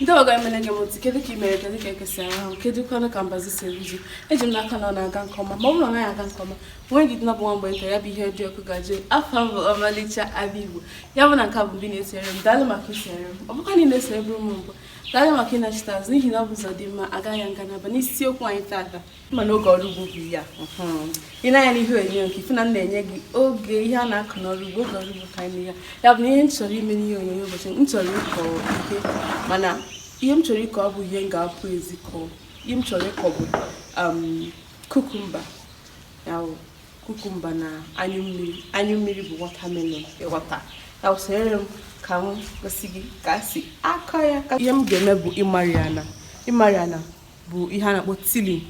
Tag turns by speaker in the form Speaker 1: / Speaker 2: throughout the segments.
Speaker 1: ndị ọ ga-emele ekene m unu kedu ka ị mere kedu ka eke si anya anwụ kedu kwanụ ka mbazi si eru ji eji m n'aka na ọ na-aga nke ọma ma ọ bụrụ na ọ naghị aga nke ọma nwee ndidi na ọ bụ nwa mgbe nta ya bụ ihe dị ọkụ ga-ajụ oyi afa m bụ ọmalịcha abịa igbo ya bụ na nke a bụ mbụ ị na-esere m daalụ maka isere m ọ bụkwa na ị na-esere bụrụ m mbụ daalụ maka ịnachite azụ n'ihi na ọ bụ ụzọ dị mma a gaa ya nga naabọ n'isiokwu anyị taata ma n'oge ọrụ ugbo bụ ya i nee anya n'ihe onyonyo nke a ị fụ na m na-enye gị oge ihe a na-akụ n'ọrụ ugbo oge ọrụ ugbo ka anyị ya ya bụ na ihe m chọrọ ime n'ihe onyonyo ụbọchị m chọrọ ịkọ ihe mana ihe m chọrọ ịkọ ọ bụ ihe m ga-apụ ezi kọọ ihe m chọrọ ịkọ bụ kukumba ya bụ kukumba na anyụ mmiri anyụ mmiri bụ watermelon ịghọta ya bụ sonyere m ka m gosi gị ka esi akọ ya ihe m ga-eme bụ ịmari ana ịmari ana bụ ihe a na-akpọ tilling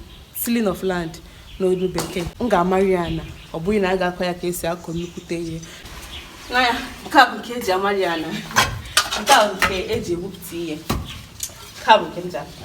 Speaker 1: tilling of land n'olu bekee m ga-amari ana ọ bụghị na a ga-akọ ya ka esi akọ nnukwute ihe nee anya nke a bụ nke eji amari ana nke a bụ nke eji egwupụta ihe nke a bụ nke m ji akọ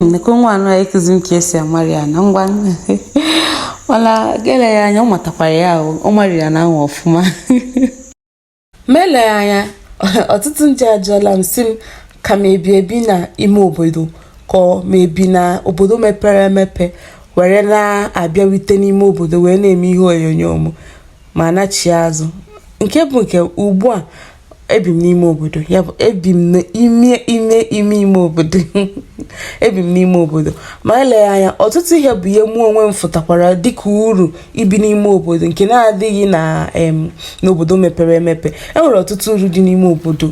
Speaker 1: nnukwu nwa anụ ya ịkụzi m ka esi amari ana ngwa mana ga-ele ya anya ọ matakwara ya ahụ amari ana ahụ ọfụma ma eleghị anya ọtụtụ ndị ajụọla m si m ka m ebi ebi na ime obodo ka m ebi na obodo mepere emepe were na-abịarute n'ime obodo wee na-eme ihe onyonyo m ma nachie azụ nke bụ nke ugbu a ebi m n'ime obodo ya bụ ebi m n'ime ime ime ime obodo ebi m n'ime obodo ma eleghị anya ọtụtụ ihe bụ ihe mụ onwe m fụtakwara dịka uru ibi n'ime obodo nke na-adịghị na n'obodo mepere emepe enwere ọtụtụ uru dị n'ime obodo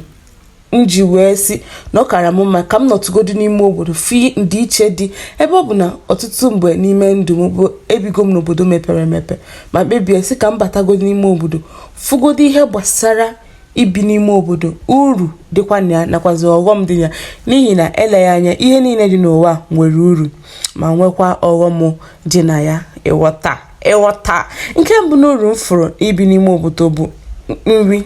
Speaker 1: m ji wee si na ọ kara m mma ka m nọtụgodu n'ime obodo fụ ndịiche dị ebe ọ bụ na ọtụtụ mgbe n'ime ndụ m bụ ebigo m n'obodo mepere emepe ma kpebie si ka m batagodu n'ime obodo fụgodu ihe gbasara ibi n'ime obodo uru dịkwa na ya nakwazi ọghọm dị ya n'ihi na eleghị anya ihe niile dị n'ụwa nwere uru ma nwekwa ọghọm dị na ya ịghọta ịghọta nke mbụ n'uru m fụrụ ibi n'ime obodo bụ nri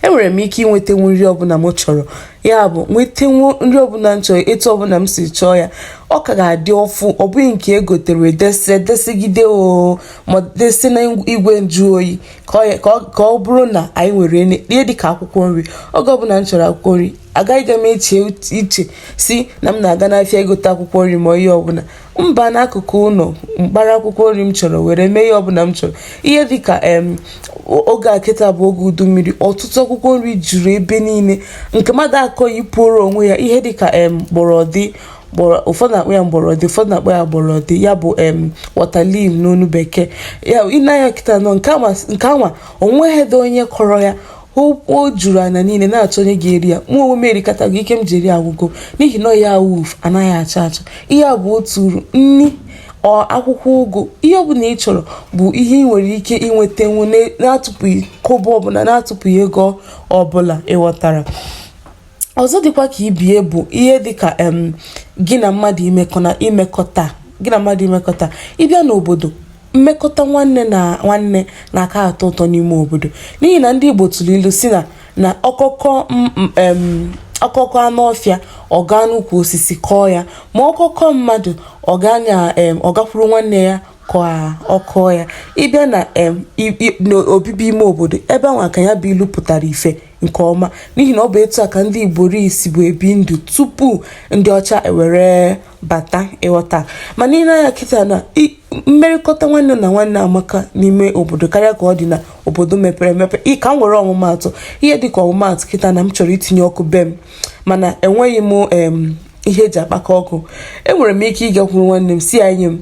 Speaker 1: enwere m ike inwetenwu nri ọbụla m chọrọ ya bụ nwetenwu nri ọbụla m chọrọ etu ọbụla m si chọọ ya ọ ka ga-adị ọfụ ọ bụghị nke egotere desi desigide oo ma desi na igwe nju oyi ka ọ bụrụ na anyị nwere ihe dịka akwụkwọ nri oge ọbụla m chọrọ akwụkwọ nri agaghị m eche iche si na m na-aga n'afịa egote akwụkwọ nri ma ihe ọbụla m baa n'akụkụ ụlọ m kpara akwụkwọ nri m chọrọ were mee ihe ọbụla m chọrọ ihe dịka em oge a kịta bụ oge udu mmiri ọtụtụ akwụkwọ nri juru ebe niile nke mmadụ akọghị puoro onwe ya ihe dịka em gbọrọdị gbọrọ ụfọdụ na-akpọ ya mgbọrọdị ụfọdụ na-akpọ ya gbọrọdị ya bụ em waterleaf n'ọnụ bekee ya i nee anya kịta na nke anwa onweghịdị onye kọrọ ya o juru anya niile na-achọ onye ga-eri ya mụ onwe m erikatago ike m ji eri agwụgo n'ihi na ihe awuf anaghị acha acha ihe a bụ otu uru nri akwụkwọ ụgụ ihe ọbụla ị chọrọ bụ ihe ị nwere ike inwetanwu na-atụpụghị kọbọ ọbụla na-atụpụghị ego ọbụla ị ghọtara ọzọ dịkwa ka ibe ya bụ ihe dịka em gị na mmadụ imekọ na imekọta gị na mmadụ imekọta ị bịa n'obodo mmekọta nwanne na nwanne na-aka atọ ụtọ n'ime obodo n'ihi na ndị Igbo tụrụ ilu sị na na ọkọ kọọ m- m- em, ọkọ kọọ anụ ọfịa ọ gaa n'ukwu osisi kọọ ya ma ọkọ kọọ mmadụ ọ gaa na em, ọ gakwuru nwanne ya ka ọ kọọ ya ị bịa na em, i- i- n'obibi ime obodo ebe ahụ ka ya bụ ilu pụtara ife nke ọma n'ihi na ọ bụ etu a ka ndị Igbo ri sibu ebi ndụ tupu ndị ọcha ewere bata ị ghọta mana i nee anya kịta na mmerịkọta nwanne na nwanne amaka n'ime obodo karịa ka ọ dị na obodo mepere emepe ka m were ọmụmaatụ ihe dịka ọmụmaatụ kịta na m chọrọ itinye ọkụ be m mana enweghị m ihe e ji akpaka ọkụ enwere m ike ịgakwuru nwanne m sị ya nye m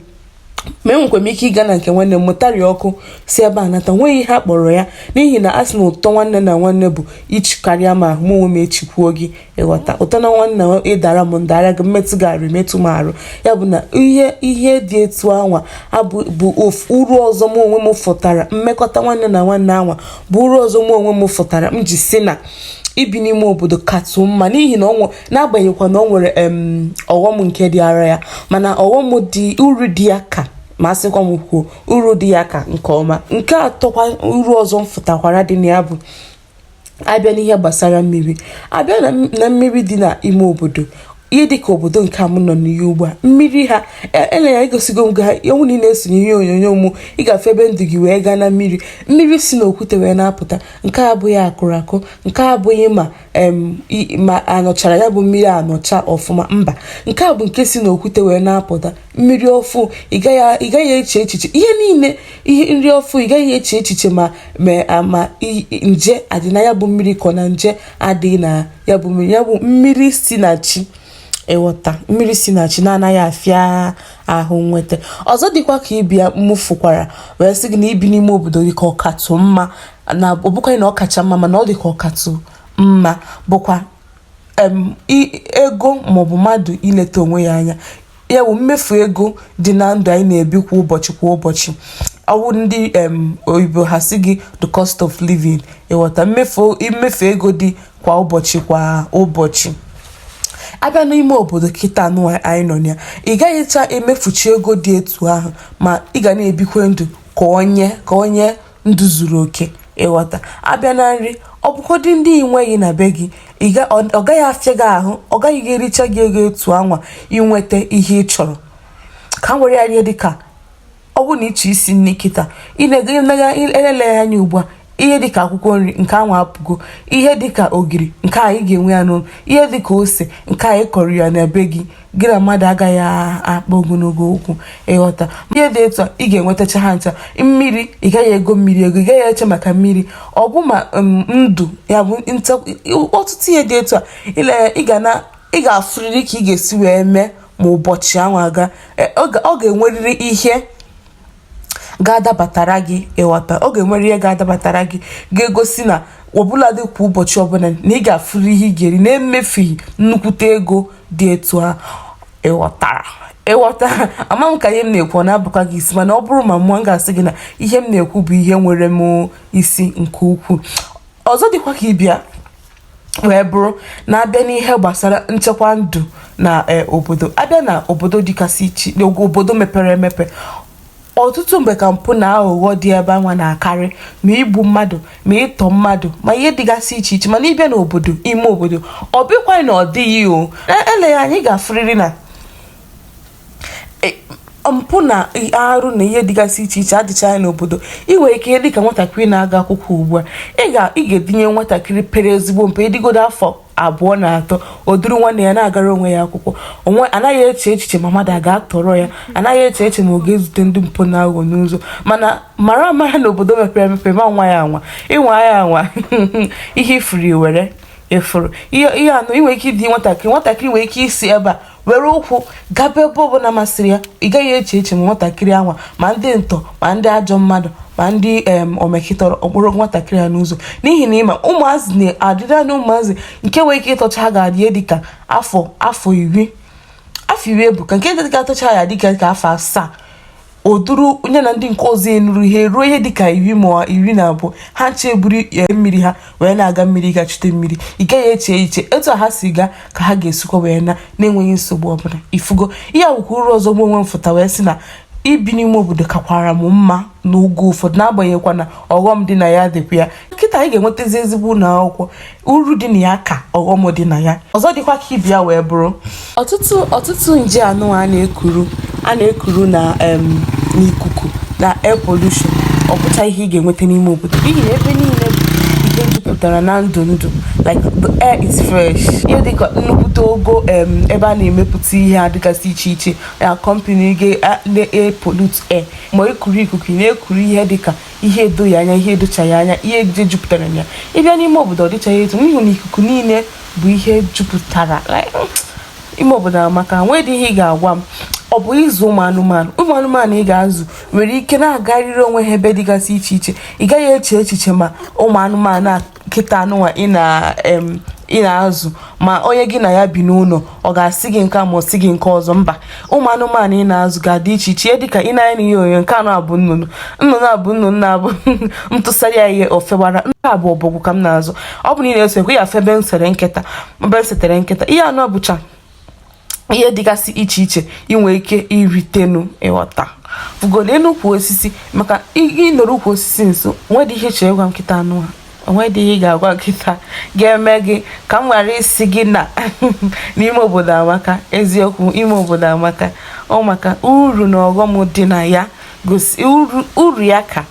Speaker 1: ma enwekwa m ike ịga na nke nwanne m mụtari ọkụ si ebe a nata nweghị ihe a kpọrọ ya n'ihi na a sị na ụtọ nwanne na nwanne bụ ichi karịa ma mụ onwe m echikwuo gị ị ghọta ụtọ na nwanne ị dara m m dara gị m metụ gị arụ i metụ m arụ ya bụ na ihe ihe dị etu anwa bụ bụ uru ọzọ mụ onwe m fụtara mmekọta nwanne na nwanne anwa bụ uru ọzọ mụ onwe m fụtara m ji sị na ibi n'ime obodo katụ mma n'ihi na n'agbanyeghịkwa na ọ nwere ọghọm nke dịara ya mana ọghọm dị uru dị ya ka ma a sịkwa m kwuo uru dị ya ka nke ọma nke atọkwa uru ọzọ m fụtakwara dị na ya bụ a bịa n'ihe gbasara mmiri a bịa na mmiri dị n'ime obodo ihe dịka obodo nke a m nọ n'ihe ugbu a mmiri ha ele ya egosigo m ga ewu na ị na-esonye ihe onyonyo mụ ị ga-afụ ebe m du gị wee gaa na mmiri mmiri si n'okwute wee na-apụta nke abụghị a kụrụ akụ nke abụghị ma ma a nụchara ya bụ mmiri anụcha ọfụma mba nke a bụ nke si n'okwute wee na-apụta mmiri ọfụụ ị gaghị eche echiche ihe niile ihe nri ọfụụ ị gaghị eche echiche ma ma nje adị na ya bụ mmiri kọ na nje adịghị na ya bụ mmiri ya bụ mmiri si na chi ị ghọta mmiri si na chi na-anaghị afịa ahụ nnweta ọzọ dịkwa ka ibe ya m fụkwara wee sị gị na ibi n'ime obodo dị ka ọ katụ mma na ọ bụkwaghị na ọ kacha mma mana ọ dị ka ọ katụ mma bụkwa ego maọbụ mmadụ ileta onwe ya anya ya bụ mmefu ego dị na ndụ anyị na-ebi kwa ụbọchị kwa ụbọchị ọ wụ ndị oyibo ha sị gị the cost of living ịghọta mmefu mmefu ego dị kwa ụbọchị kwa ụbọchị abịa n'ime obodo kịta anụ anyị nọ na ya ị gaghịcha emefuchi ego dị etu ahụ ma ị ga na-ebikwe ndụ ka onye ka onye ndụ zuru oke ịghọta abịa na nri ọ bụgodị ndị ị nweghị na be gị ị ga- ọ ọ gaghị afịa gị ahụ ọ gaghị gị ericha gị ego etu anwa inweta ihe ị chọrọ ka m were ya ihe dịka ọ bụrụ na ịchọ isi nri kịta elele ya anya ugbu a ihe dịka akwụkwọ nri nke anwa apụgo ihe dịka ogiri nke a ị ga-enwe ya n'ụlọ ihe dịka ose nke a ị kọrọ ya na be gị gị na mmadụ agaghị akpa ogologo okwu ịghọta ihe dị etu a ị ga-enwetacha ha ncha mmiri ị gaghị ego mmiri ego ị gaghị eche maka mmiri ọ bụ ma um, ndụ ya bụ ọtụtụ ihe dị etu a ile ị ga na ị ga-afụrịrị ka ị ga-esi wee mee ma ụbọchị ahụ aga e, ọ ga-enwerịrị ihe ga-adabatara gị ịghọta ọ ga-enwere ihe ga-adabatara gị ga-egosi na ọ bụladị kwa ụbọchị ọbụla na ị ga-afụrụ ihe ị ga-eri na-emefughị nnukwute ego dị etu a ịghọtara ịghọta ama m ka ihe m na-ekwu ọ na-abụkwa gị isi mana ọ bụrụ ma mụwa m ga-asị gị na ihe m na-ekwu bụ ihe nwere m isi nke ukwuu ọzọ dịkwa ka ịbịa wee bụrụ na abịa n'ihe gbasara nchekwa ndụ na e, obodo abịa na obodo dịgasị iche obodo mepere emepe ọtụtụ mgbe ka mpụ na aghụghọ dị ebe anwa na-akarị ma igbu mmadụ ma ịtọ mmadụ ma ihe dịgasị iche iche mana ịbịa n'obodo ime obodo ọ bụkwaghị na ọ dịghị o e, eleghị anya ị ga-afụrịrị na e, mpụ na arụ na ihe dịgasị iche iche adịchaghị n'obodo ị nwere ike ihe dịka nwatakịrị na-aga akwụkwọ ugbu a ị ga ị ga-edinye nwatakịrị pere ezigbo mpe ịdịgodo afọ abụọ na atọ o duru nwanne ya na-agara onwe ya akwụkwọ onwe anaghị eche echiche ma mmadụ a ga-atọrọ ya anaghị eche eche ma ọ ga-ezute ndị mpụ na aghụghọ n'ụzọ mana mara amara na obodo mepere emepe ma nwa ya anwa ị nwa ya anwa ihe ị fụrụ ị were ị fụrụ ihe anụ ị nwere ike ịdị nwatakịrị nwatakịrị nwere ike isi ebe a were ụkwụ gaba ebe ọbụla masịrị ya ị gaghị eche eche ma nwatakịrị anwa ma ndị ntọ ma ndị ajọ mmadụ ma ndị omekịtọrọ ọ kpọrọ nwatakịrị a n'ụzọ n'ihi na ịma ụmụazị na-adịrị anya ụmụazị nke nwere ike ịtọcha ha ga-adị dị ka afọ afọ iri afọ iri ebuka nke ga-atọcha ya dịka ka afọ asaa o duru onye na ndị nke ọzọ enuru ihe ruo ihe dịka iri ma iri na abụọ ha ncha buru e, mmiri ha wee na-aga mmiri ga chute mmiri ị gaghị eche echiche etu ha si gaa ka ha ga-esikwa wee naa na-enweghị nsogbu ọbụla ị fụgo ihe a wụkwa uru ọzọ mụ onwe m fụta wee sị na ibi n'ime obodo kakwara m mma n'oge ụfọdụ n'agbanyeghịkwa na ọghọm dị na ya dịkwa ya kịta anyị ga-enwetazi ezigbo ụlọ akwụkwọ uru dị na ya ka ọghọm dị na ya ọzọ dịkwa ka ị bịa wee bụrụ ọtụtụ ọtụtụ nje anụ a na-ekuru a na-ekuru na n'ikuku na air pollution ọ bụcha ihe ị ga-enweta n'ime obodo n'ihi na ebe niile ihe jupụtara na ndụ ndụ like the air is fresh ihe dịka nnukwute ogo ebe a na-emepụta ihe dịgasị iche iche na company ga-pollute air ma ekuru ikuku na-ekuru ihe dịka ihe edoghị anya ihe edochaghị anya ihe nje jupụtara na ya ị bịa n'ime obodo ọ dịchaghị etu n'ihi na ikuku niile bụ ihe jupụtara ime obodo amaka o nwedị ihe ị ga-agwa m ọ bụ ịzụ ụmụ anụmanụ ụmụ anụmanụ ị ga-azụ nwere ike na-agarịrị onwe ha ebe dịgasị iche iche ị gaghị eche echiche ma ụmụ anụmanụ a kịta anụnwa ị na em ị na-azụ ma onye gị na ya bi n'ụlọ ọ ga-asị gị nke a ma ọ sị gị nke ọzọ mba ụmụ anụmanụ ị na-azụ ga-adị iche iche dịka ị na-ahụ n'ihe onyonyo nke anụ a bụ nnụnụ nnụnụ a bụ nnụnụ na-abụ m tụsara ya ihe o fewara nke a bụ ọbọgwụ ka m na-azụ ọ bụ na ị na-eso ekwe ya febe nsere nkịta mbe setere nkịta ihe anụ a bụcha ihe dịgasị iche iche i nwere ike iritenu ịghọta fụgodo elu ukwu osisi maka ị nọrọ ukwu osisi nso o nwedị ihe ị chọrọ ịgwa m kịta anụnwa o nwedị ihe ị ga-agwa m kịta ga-eme gị ka m ghara ịsị gị na n'ime obodo amaka eziokwu ime obodo amaka ọ maka uru na ọghọm dị na ya gosi uru ya ka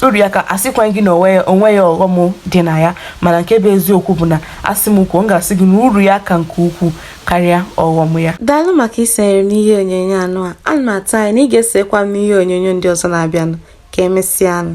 Speaker 1: uru ya ka asịkwa gị na o nweghị ọghọm dị na ya mana nke bụ eziokwu bụ na a sị m kwuo m ga-asị gị na uru ya ka nke ukwuu karịa ọghọm ya daalụ maka isonyere m n'ihe onyonyo anụ a ana m atụ anya na ị ga-esokwa m n'ihe onyonyo ndị ọzọ na-abịanụ ka emesịanụ